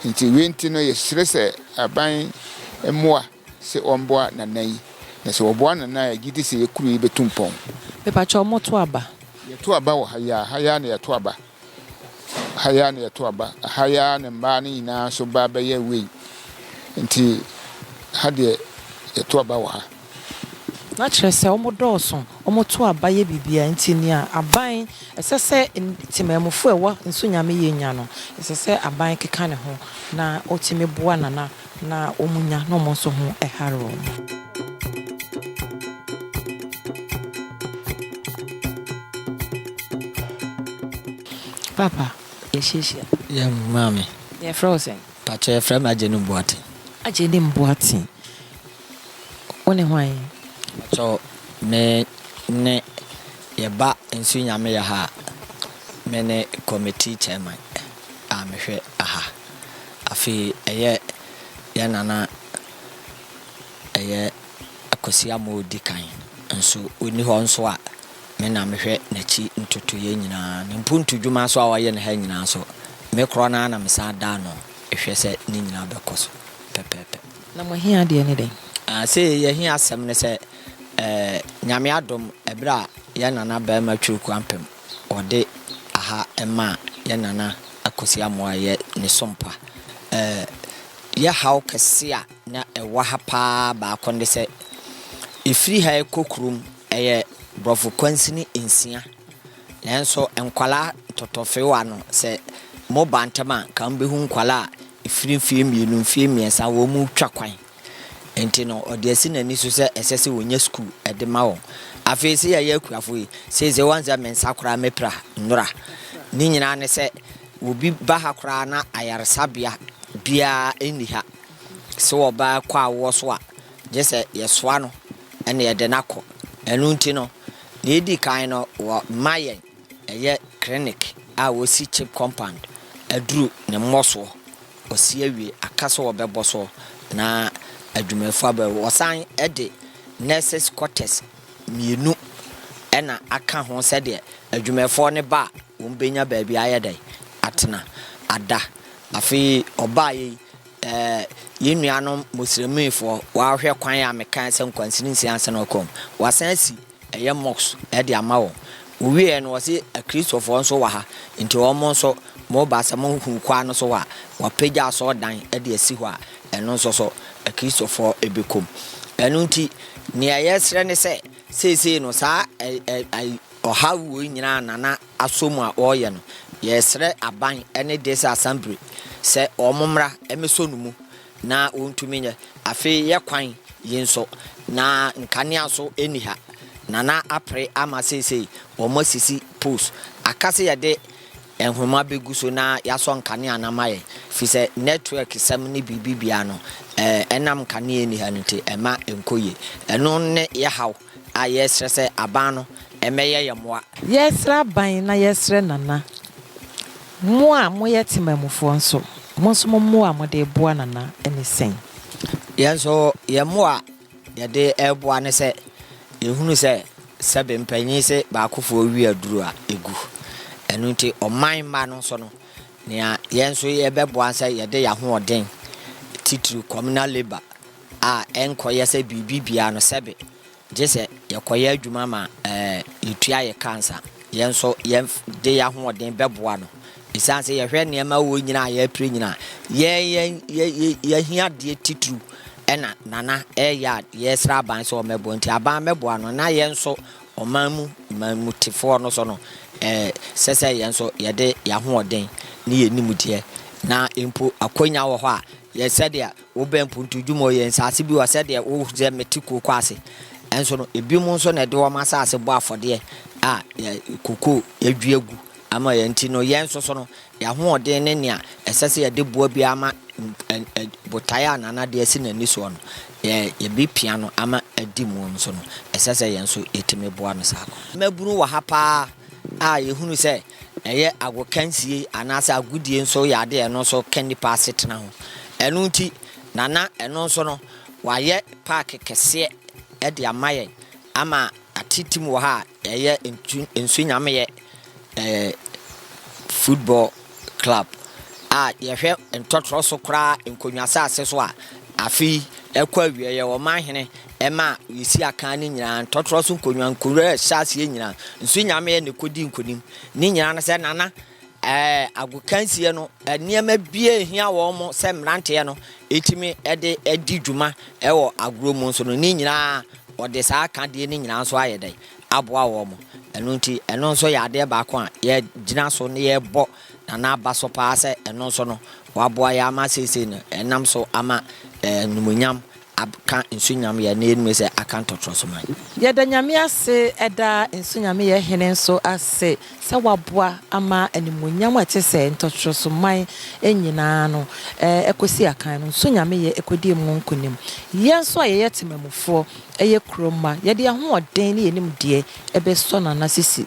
Nti wei nti no, yɛsrɛ sɛ aban mmoa. se wɔmboa Nana yi. Na se wɔboa Nana a, yɛgye di se yɛ kuro yi bɛtu mpɔn. Mepakyɛw moto aba. Yɛto aba wɔ ha yi ara. Ha yi ara na yɛto aba. Ha yi ara na yɛto aba. Ha yi ara na mmaa no nyinaa nso ba bɛyɛ wei. Nti ha deɛ yɛto aba wɔ ha. Na kyerɛ sɛ wɔdɔɔso, wɔto aba yɛ biribiara. Nti nea aban, ɛsɛ sɛ temanmufo a ɛwɔ Nsu Nyame yɛ nya no, ɛsɛ sɛ aban keka ne ho na ɔtumi boa Nana Na wɔn nya na wɔn nso ho hare wɔn. Papa, yɛahyiahyia. Yɛ amm maame. Yɛfrɛ wo sɛn? Pakyɛ yɛfrɛ me Agyenim Boateng. Agyenim Boateng, wone hwan? Pakyɛ me ne yɛba Nsu Nyame yɛ ha a, me ne committee chairman. a mehwɛ aha. Afei ɛyɛ yɛn nana ɛyɛ Akwasi Amoah Odikan nso ɔnni hɔ nso a me na mehwɛ n'akyi ntotoeɛ nyinaa. Ne mpuntu dwuma nso a ɔyɛ no ha nyinaa nso me korɔ no ara na mesan da ano hwɛ sɛ ne nyinaa bɛkɔ so pɛpɛɛpɛ. Na mo ahia deɛ ne dɛn? Ah, sei yɛn ahia asɛm ne sɛ, eh, Nyame adom, ɛberɛ a yɛn nana barima Twirikuo Ampem Wɔde aha maa yɛn nana Akosi Amoah a ɛyɛ ne sompa. Ɛɛ yɛ haw kɛse a na ɛwɔ ha paa baako ne sɛ, ɛfiri ha ɛkɔ kurom ɛyɛ borɔfo kwansini nsia. Nanso nkwadaa ntɔtɔfewa no sɛ moba ntɛm a, nka mobɛhu nkwadaa a ɛfiri mfeɛ mmienu, mfeɛ mmiɛnsa wɔretwa kwan. Enti no, ɔde asi n'ani so sɛ ɛsɛ sɛ onya sukuu de ma wɔn. Afei, sɛ yɛyɛ akuafo yi, seesei wɔn sɛ me nsa koraa mepira nnora. Ne nyinaa ne sɛ, obi ba ha koraa na ayaresabea biara nni ha. Sɛ ɔba kɔ awoɔ so a, gye sɛ yɛsoa no na yɛde no akɔ. Ɛno nti no, nea edi kan no, wɔma yɛn. Ɛyɛ clinic a wɔsi chip compound aduru ne mmɔsoɔ wɔsi awie aka sɛ wɔbɛbɔ so na adwumayɛfoɔ aba mu wɔsan de nurses quarters mmienu na aka ho sɛdeɛ adwumayɛfoɔ no ba a wɔn bɛnya baabi ayɛ dɛn atena ada afei ɔbaa yɛ yi ɛɛ yɛn nuanom moslemifoɔ wɔahwɛ kwan a mekae sɛ nkwansini nsia ansa na wɔkɔm wɔasan asi Ɛyɛ mox de ama wɔn. Wowiee no wɔse akristofoɔ nso wɔ ha nti wɔn nso moba sɛ mohunu kwan no so hɔ a wɔapagya asɔrdan de asi hɔ a ɛno nso so akristofoɔ bɛkɔ mu. Ɛno nti neɛ yɛsrɛ ne sɛ seesei no saa ɔhaw wei nyinaa Nana asɔ mu a ɔreyɛ no yɛsrɛ aban ne Dese Assembly sɛ wɔn mmra mmɛsɔ no mu na wontumi nyɛ. Afei yɛ kwan yi nso, na nkanea nso nni ha, na na apere ama seesei wɔasisi poles. Aka sɛ yɛde nhoma begu so na yɛasɔ nkanea no ama yɛn, efisɛ networksɛm ne biribi biara no, ɛnam nkanea a enni ha no nti, ɛmma ɛnkɔ yie. Ɛno ne yɛn haw. A Yɛsrɛ sɛ aban no mmɛyɛ yɛn mmoa. Yɛsrɛ aban na yɛsrɛ Nana. Mo a moyɛ temanmufoɔ nso, mo nso mo mmoa a mode reboa Nana ne sɛn? Yɛn nso yɛn mmoa a yɛde reboa ne sɛ yɛhunu sɛ sɛbe mpanin se baakofoɔ we aduro a, ɛgu. Ɛno nti ɔman mma no nso no, nea yɛn nso yɛbɛboa ne sɛ yɛde yɛn ahoɔden, titiriw communal labour, a ɛnkɔyɛ sɛ biribi biara no sɛbe gye sɛ yɛkɔyɛ adwuma ma yɛtua yɛn ka ansa. Yɛn nso yɛde yɛn ahoɔden bɛboa no. Esiane sɛ yɛhwɛ nneɛma a ɛwɔ nyinaa a yɛrepere nyinaa, yɛn ahiadeɛ titiriw na Nana reyɛ a yɛresrɛ aban sɛ wɔmmɛboa nti, aban mmɛboa no na yɛn nso ɔman mu manmutefoɔ no nso no, ɛsɛ sɛ yɛn nso yɛde yɛn ahoɔden ne yɛn nimdeɛ na mpo akwannya wɔ hɔ a, yɛ sɛdeɛ Wo bɛ mpuntudwuma o yɛ nsaase bi wɔ sɛdeɛ wo hu sɛ mete kooko ase nso no ebinom nso na ɛde wɔn asaase bɔ afɔdeɛ a yɛ kooko adua gu ama yɛn nti no yɛn nso so no yɛ ahoɔden ne nea ɛsɛ sɛ yɛde boa biara ama botaeɛ a Nana de asi n'ani soɔ no yɛ yɛbi pia no ama adi mu nso no ɛsɛ sɛ yɛn nso yɛtumi boa no saa kwa. Mmabunu wɔ ha paa a yɛhunu sɛ Ɛyɛ agokansie anaasɛ agodie nso yɛ adeɛ a ɛno nso ka nnipa asetena ho. Ɛno nti na na ɛno nso no wɔayɛ paake kɛseɛ de ama yɛn ama atetem wɔ ha a ɛyɛ ntu nsu nyameɛ ɛɛ football club a yɛhwɛ ntɔtorɔ so koraa nkonnwa asase so a afe yi ɛkɔ awieɛ wɔn ahene Ɛma Usia kan ne nyinaa ntɔtorɔ so nkonnwa, nkuro a ɛhyɛ aseɛ nyinaa, nso nyameɛ na ɛkɔdii nkonim. Ne nyinaa no sɛ, na na ɛɛ agokansie no nneɛma bi a ɛhia wɔn sɛ mmeranteɛ no tumi de di dwuma wɔ agorɔ mu nso no, ne nyinaa wɔde saa akadeɛ no nyinaa nso ayɛ dɛn? Aboa wɔn. Ɛno nti, ɛno nso yɛ adeɛ baako a yɛgyina so na yɛbɔ Nana Aba so paa sɛ ɛno nso no, waboa yɛn ama seesei no, yɛnam so ama ɛɛ animuonyam Abka nsu nyameyɛ ne yɛnime sɛ Akan tɔtrɔso man. Yɛda Nyame ase ɛda nsu nyameyɛ hene nso ase sɛ waboa ama animuonyam a ɛte sɛ ntɔtrɔso man nyinaa no ɛkɔsi Akan no nsu nyameyɛ ɛkɔdie mu nkonim. Yɛn nso a yɛyɛ temamufoɔ, yɛ kuro mma, yɛde yɛn ahoɔden ne yɛn nimdeɛ ɛbɛsɔ no anasisi.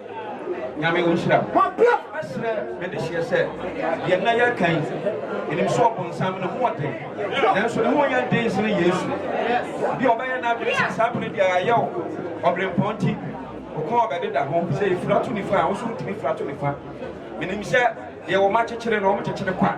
Nyame wo nhyira mɛsrɛ me dehyeɛ sɛ deɛ nna yɛ reka yi menim sɛ ɔbonsam ne ho ɔden nanso ne ho yɛ den sene Yesu bi ɔbɛyɛ n'adwene sɛ saa bere deɛ ayɛ wo ɔbrempɔn nti ɔkɔn ɔbɛdeda ho sɛ yɛfira to nifa a wo so wotumi fira to nifa menim sɛ deɛ wɔn akyekyere no wɔn kyekyere kwa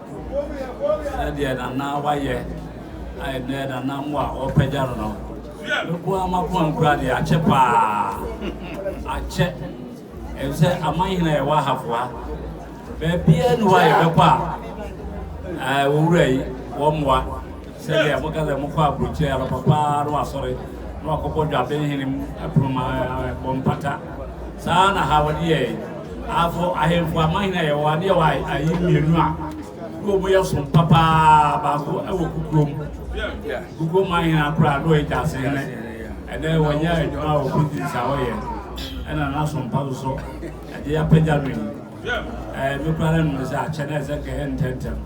Sɛdeɛ Nana wayɛ a ɛnɛ Nana mo a ɔrepagya no no, meboa m'akoma nkura deɛ akyɛ paa, akyɛ. Ɛfiri sɛ amanhene a ɛwɔ ahafoa, baabiara ni hɔ a yɛbɛkɔ a, ɛɛ wɔwura yi wɔmmoa. Sɛdeɛ moka sɛ mokɔ aburokyire anɔpa pa ara na wasɔre na wakɔbɔ dwaben hene pono ma bɔ mpata, saa ara na ha wɔde yɛɛ afo ahemfo amanhene a yɛwɔ ha ne yɛwɔ ayi mmienu a na wɔn yɛ som pa pa ara, baako wɔ kukurom, kukurom manhene akora na ɔyɛ gyaase hene, ɛnɛ wɔnyɛ adwuma wɔ prisons a wɔyɛ ɛna n'asom pa so so ɛde apagya no yi, ɛɛ mekura ne nnome sɛ akyɛ na ɛsɛ kɛyɛ ntɛntɛm.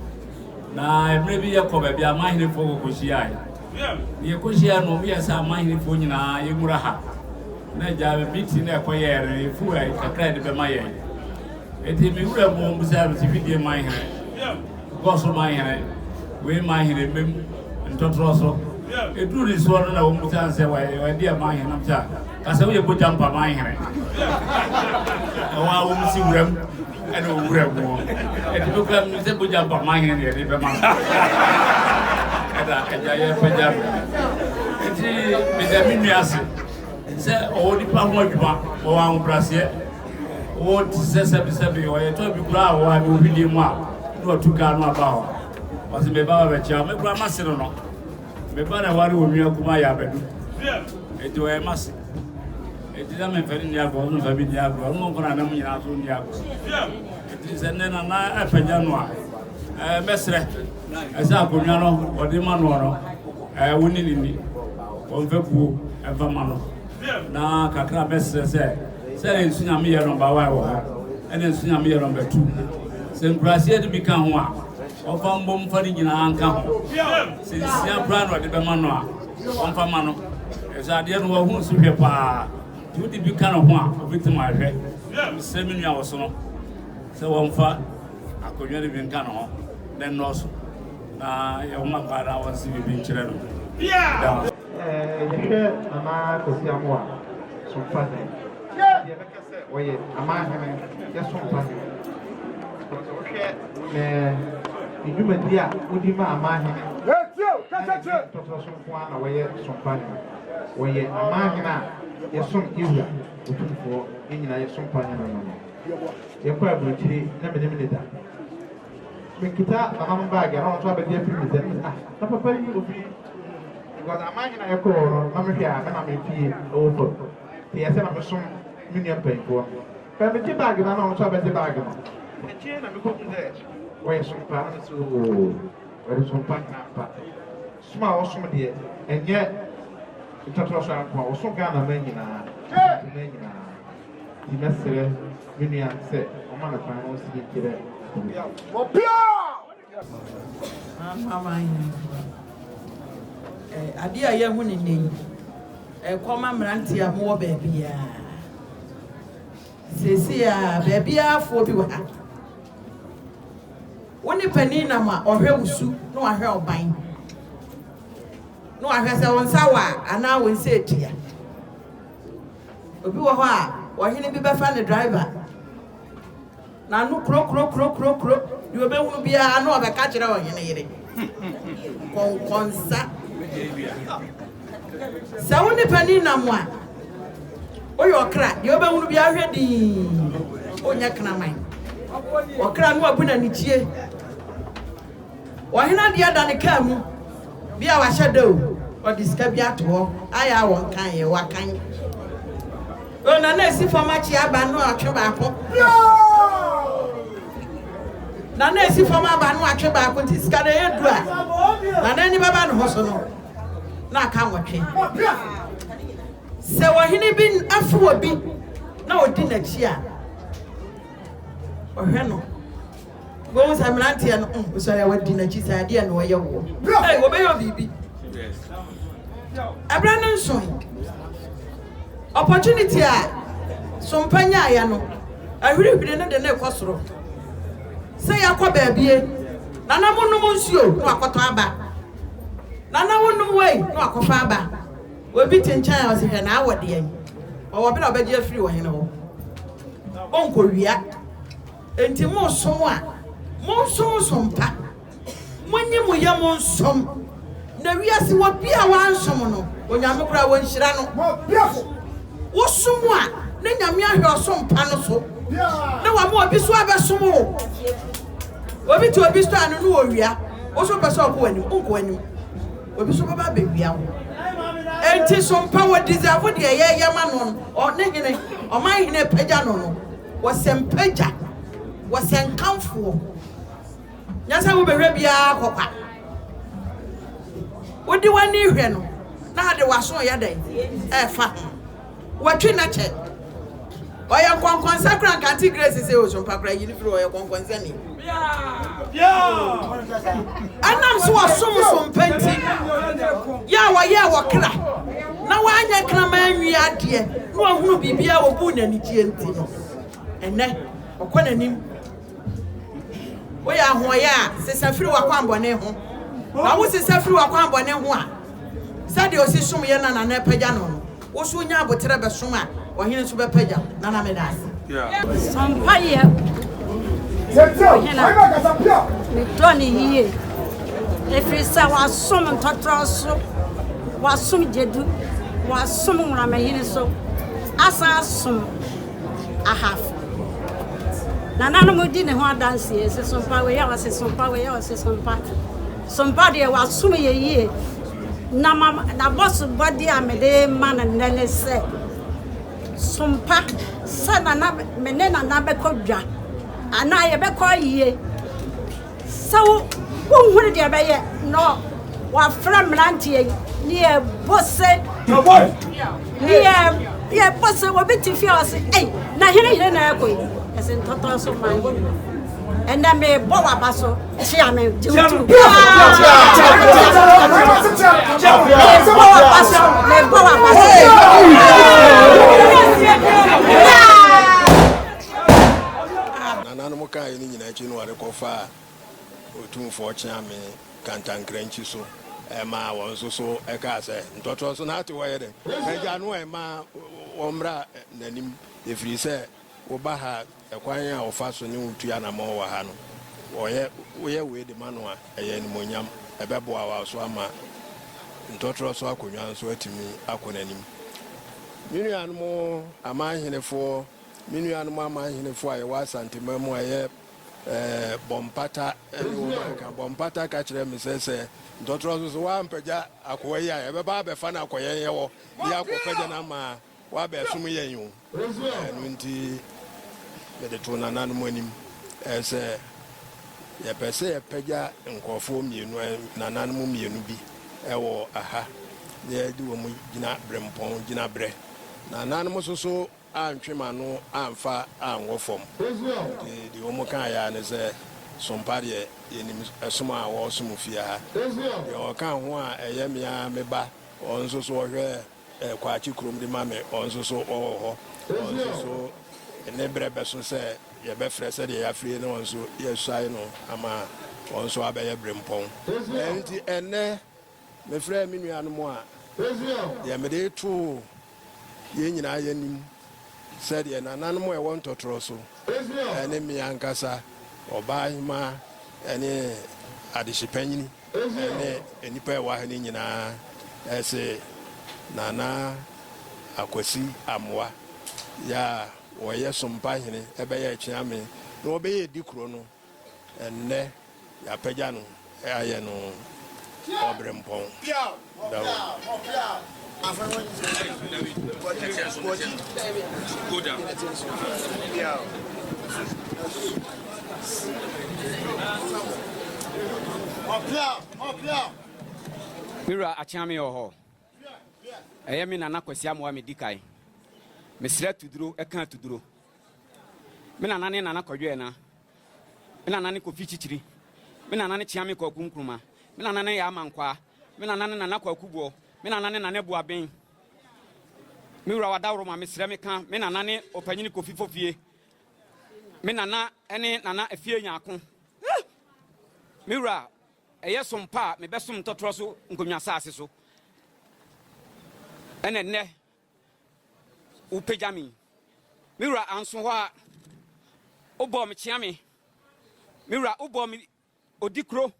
Na mmerɛ bi yɛkɔ baabi a amanhenefoɔ kɔkɔhyiae, na yɛkɔhyiae no, wɔyɛ sɛ amanhenefoɔ nyinaa yɛmmura ha. Na agya meeting no ɛkɔyɛɛ no, ɛfu a kakra yɛde bɛma yɛn. Enti me wura mu bisaa no sɛ, Fidie manhene, Gɔso manhene, wei manhene, mmam ntɔtorɔ so. Ɛduru ne soɔ no na wɔn bisaa no sɛ, wɔde yɛ manhene nam sɛ a, ka sɛ woyɛ bɔgyampa manhene. Ɛwɔ a wɔn si wuram. ɛna owura mu hɔ ɛde bi kura mi sɛ bogya ba maa yɛn na yɛde bɛma no ɛna agya yɛ pagya mi eti meda mi nua ase sɛ ɔwɔ nipa ho adwuma ɔwɔ ahobraseɛ ɔwɔ ti sɛ sɛbisɛbi ɔyɛ tɔ bi kura a ɔwɔ adi obi di mu a na ɔtu kaa no aba hɔ ɔsi mɛ ba ba bɛ kyia mɛ kura ma se no no. Me ba na ware wo nua kumaa yɛ abɛdu eti ɔyɛ mase eti sɛ memfa ne ni agorɔ ɔno mfa bi ni agorɔ ɔno nko na nam nyinaa so ni agorɔ eti sɛ nnɛ nana apagya no a ɛɛ mɛsrɛ ɛsɛ akonnwa no ɔde ma noɔ no ɛɛ wo ne ne ni wɔmfa buo ɛmfa ma no na kakra mɛsrɛ sɛ sɛ nsu nyame yɛ nɔmba wa wɔ hɔ ɛna nsu nyame yɛ nɔmba tu sɛ nkuraseɛ no bi ka ho a Ɔmfa mbɔ mu mfa ne nyinaa nka ho. Sɛ nsia koraa na ɔde bɛma no a, ɔmfa mma no, efisɛ adeɛ no wahu so hwɛ paa. Nti wode bi ka ne ho a, ɔbɛtim ahwɛ. Mesrɛ me nua ɔsono sɛ wɔmfa akonnwa no bi nka ne ho na ɛnnɔɔso, na yɛwoma paa na wɔnse biribi nkyerɛ no. Da hɔ. Ɛɛ, yɛhwɛ Nana Kwasi Amoah so mfa dɛn? sɛ ɔyɛ aman hene yɛ so mpa hene because wohwɛ ɛɛ ne dwumadi a wodi ma aman hene ntɔtɔ so nko ara na wɔyɛ so mpa hene wɔyɛ aman hene a yɛsom Yehowa otumfoɔ yɛn nyinaa yɛ so mpa hene no no yɛkɔ aburokyire na menim ne da mekita nananom baage na ɔnso abɛgye afiri me nsam ah na papa yi obi because aman hene a yɛkɔɔ no na mehwɛ a mena mefie ɛwɔ fam Meyɛ sɛ na mesom me nua mpanyimfoɔ no. Bere a megye baage no ara na wɔn nso abɛgye baage no. Akyiri yi na mekɔhuu sɛ wɔyɛ sompa. Na mese, Oo, wɔde sompa nyɛ ampa. Som a wɔsom deɛ, ɛnyɛ Twatoroaso ha nko ara, wɔso Ghana man nyinaa, Asante man nyinaa. Enti mɛsrɛ me nua sɛ ɔmma no kwan na ɔnsi ne ti dɛ obi a ɔsom. Amanaman no mpo no, ade a yɛahu no nnɛ yi, ɛkɔma mmeranteɛ a mowɔ baabiara. Seesei a baabiara foɔ bi wɔ ha. Wo ne panin nam a, ɔhwɛ wo su na wahwɛ ɔban na wahwɛ sɛ wo nsa wɔ a anaa wo nsa atua. Obi wɔ hɔ a, ɔhene bi bɛfa ne driver N'ano kurokurokurokurokuro, deɛ ɔbɛhunu biara na ɔbɛka kyerɛ ɔhene yere. Nkɔnkɔnsa. Sɛ wo ne panin nam a, woyɛ ɔkra, deɛ ɔbɛhunu biara hwɛ dinn, wonyɛ kraman. Ɔkra no abu n'anikyie. Ɔhene adeɛ da ne kaa mu, bi a wahyɛ da o, ɔde sika bi ato hɔ, ayɛ a wɔnkaeɛ, wakan. Yoo na na esi fam akyi aba no atwe baako. Yoo na na esi fam aba no atwe baako nti sika na ɛyɛ du a na n'ani bɛba ne ho so no na aka nwɔtwe. Sɛ ɔhene bi afe wɔ bi na ɔdi n'akyi a ɔhwɛ no. Wohu sɛ mmeranteɛ no mm, wosɔre a wadi n'akyi saa adeɛ na ɔyɛ woɔ. Bro, hey, wɔbɛyɛ biribi. Ɛberɛ no nso no, opportunity a sompa nyaeɛ no, ahwirihwiri no de ne kɔ soro. Sɛ yɛakɔ baabie, nana monom nsuo na wakɔtɔ aba. Nana wonom wei na wakɔfa aba. Obi te nkyɛn a ɔsɛ hwɛ na awɔ deɛ. Ɔwɔ bere a ɔbɛgye afiri wɔ hene hɔ. Ɔnkɔwia. Enti mosom a, monsonsom pa, monyi mo yam nsom, na wiase wɔ bi a wansom no, Onyame koraa wɔnhyira no. Wosom a, na Nyame ahwɛ ɔsom pa no so, na wama obi so abɛsom wo. Obi te obi so a, no ne owia, wo so pɛ sɛ ɔkɔ w'anim, wonkɔ w'anim, obi so bɛba abɛwia wo. Enti som pa, wɔ deserve deɛ yɛyɛ ma no no, ɔne hene, ɔman hene pagya no no. Wɔsɛ mpagya, wɔsɛ nkamfoɔ. Nyansa mu bɛhwɛ biara kɔ kwa. Wode w'ani hwɛ no na ade w'aso reyɛ dɛn? Ɛrefa ho. Watwi nna kyɛ. Ɔyɛ nkɔnkɔnsa koraa nka Auntie Grace se osumpa koraa yi no firi hɔ ɔyɛ kɔnkɔnsani. Ɛnam sɛ wɔsom so mpa nti, yɛ a wɔyɛɛ wɔ kra na wɔanyɛ kraman nwi adeɛ na wɔahunu biribi a wɔbuu no anigyeɛ nti no, ɛnnɛ ɔkɔ n'anim. Woyɛ ahoɔyɛ a, sesa firi w'akwammɔne ho. Na wosesa firi w'akwammɔne ho a, sɛdeɛ ɔsi som yɛn na nana apagya no no, Wo so nya aboterɛ bɛsom a, ɔhene nso bɛpagya wo. Nana meda ase. Sɔ mpaeɛ ɔhene a, medɔ no yie ɛfiri sɛ wasom ntɔtorɔ so, wasom gyadu, wasom nworamahini so, asan asom ahafo. Nananom di ne ho adanseɛ sɛ sompa wei a ɔse sompa wei a ɔse sompa. Sompa deɛ wasom yɛ yie. Na m'abɔsobɔde a mede rema no nnɛ ne sɛ, som pa, sɛ Nana, me ne Nana bɛkɔ dwa, anaa yɛbɛkɔ ayie. Sɛ wo, wonhunu deɛ ɛbɛyɛ na wɔafrɛ mmeranteɛ yi, ne yɛbɔ se, ne yɛ, yɛbɔ se, obi te fie a ɔse, ei, na hene hene na ɛrekɔ yi? Ɛse, ntɔtɔɔ so man hene. ɛnɛ mebɔ w'aba so kyea me gye wo tu mebɔ w'aba so mebɔ w'aba so nananom kaa yɛ no nyinaa akyi no wɔde kɔfa ɔtumfoɔ kyea me kantankrankyi so ɛma wɔn nso so ɛkaa sɛ ntɔtorɔ so na ate wɔyɛ dɛ agya no ɛma wɔmmra n'anim ɛfiri sɛ Woba ha a, kwan a wɔfa so ne wo tu anammɔn wɔ ha no, wɔyɛ woyɛ wei de ma no a, ɛyɛ animuonyam. Ɛbɛboa wo nso ama ntɔtorɔ so akonnwa nso atumi akɔ n'anim. Me nuanom amanhenefoɔ, me nuanom amanhenefoɔ a yɛwɔ Asanteman mu a ɛyɛ Bɔmpata ne wɔn a ɛka, Bɔmpata ka kyerɛɛ me sɛ, sɛ ntɔtorɔ so so woampagya akoa yi a, yɛbɛba abɛfa no akɔ yɛn yɛwɔ de akɔpagya no ama wabɛsom yɛn o. Ɛno nti, mede too nananom anim sɛ yɛpɛ sɛ yɛpagya nkurɔfoɔ mmienu, nananom mmienu bi wɔ ha na yɛde wɔn gyina berempɔn gyinaberɛ. Nananom nso so antwe m'ano amfa anwɔ fam, nti deɛ wɔn kaeɛ ara ne sɛ, Sompa deɛ, yɛnim som a wɔresom fie ha. Deɛ ɔka ho a ɛyɛ me ara me ba, ɔno nso so ɔhwɛ Eh, Kwakye kurom de ma me, wɔn nso so wɔwɔ hɔ. Wɔn nso so ne berɛ bɛso sɛ yɛbɛfrɛ sɛdeɛ yɛafrɛ na wɔn nso yɛasuae no ama wɔn nso abɛyɛ berempɔn. Enti ɛnnɛ mefrɛɛ me nuanom a, deɛ mede too yɛn nyinaa yɛn anim sɛdeɛ nananom a ɛwɔ ntɔtorɔ so ne me ankasa, ɔbaa hemaa ne adehye panyini, Ɛne nnipa a ɛwɔ ha no nyinaa se Nana Akwasi Amoa ya a wɔyɛ Sompa hene ɛbɛyɛ Akyeame na wɔbɛyɛ di kuro no ɛnnɛ yɛapɛgya no ayɛ no Ɔbrempɔn. Me wura Akyeame wɔ hɔ? Ɛyɛ me Nana Kwasi Amoah medi kan. Mesrɛ Tuduro ka Tuduro. Me Nana ne Nana Kwadwo Ɛna. Me Nana ne Kofi Kyikyiri. Me Nana ne Kyeame Kwaku Nkrumah. Me Nana ne Yaah Mankwaa. Me nana ne nana kwaku boɔ. Me nana ne nana buaben. Me wura wadaworoma mesrɛ me ka me nana ne ɔpanyini kofi fofie. Me nana ne nana afie nyaako. Me wura ɛyɛ som pa a mebɛsom ntɔtorɔ so nkonnwa asase so ɛna nnɛ wopagya me me wura anso hɔ a wobɔɔ me kyea me me wura wobɔɔ me odi kuro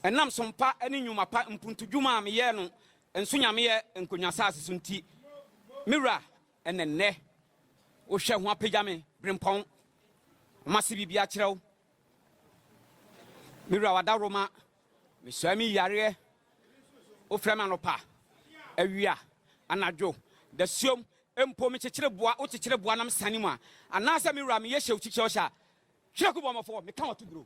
Ɛnam som pa ne nnwuma pa mpuntudwuma a meyɛɛ no nso Nyameɛ nkonnwa saase so nti, me Wura, ɛna nnɛ Wohwɛ ho apagya me, Brempɔn. Mase biribi akyerɛ wo. Me Wura, W'adaworoma, mesɔɛ me yareɛ. Wofrɛ me anɔpa, awia, anadwo, dasuom, mpo mekyekyere boa, wokyekyere boa na mesane mu a, anaasɛ me Wura meyɛ hyɛw kyikyɛw hyɛ a, Kyerɛ ku bɔmɔ fɔ, me ka wɔ to bro.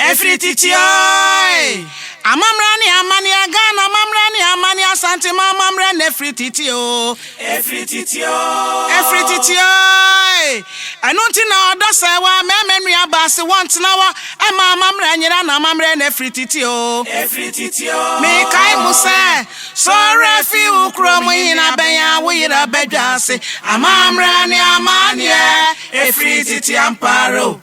Ɛfiri tete ɔe. Amammerɛ ne amanneɛ Ghana amammerɛ ne amanneɛ Asanteman amammerɛ na ɛfiri tete o. Ɛfiri tete o. Ɛfiri tete ɔe. Ɛno nti na ɔdɔ sɛe wɔ a Mɛma nnua baa se wɔntena hɔ Ɛma amammerɛ nyera na amammerɛ na ɛfiri tete o. Ɛfiri tete o. Mekae mo sɛ, Sɔre fi wo kuro mu Hena bɛnya wo yera badwa ase Amammerɛ ne amanneɛ Ɛfiri tete ampa ara o.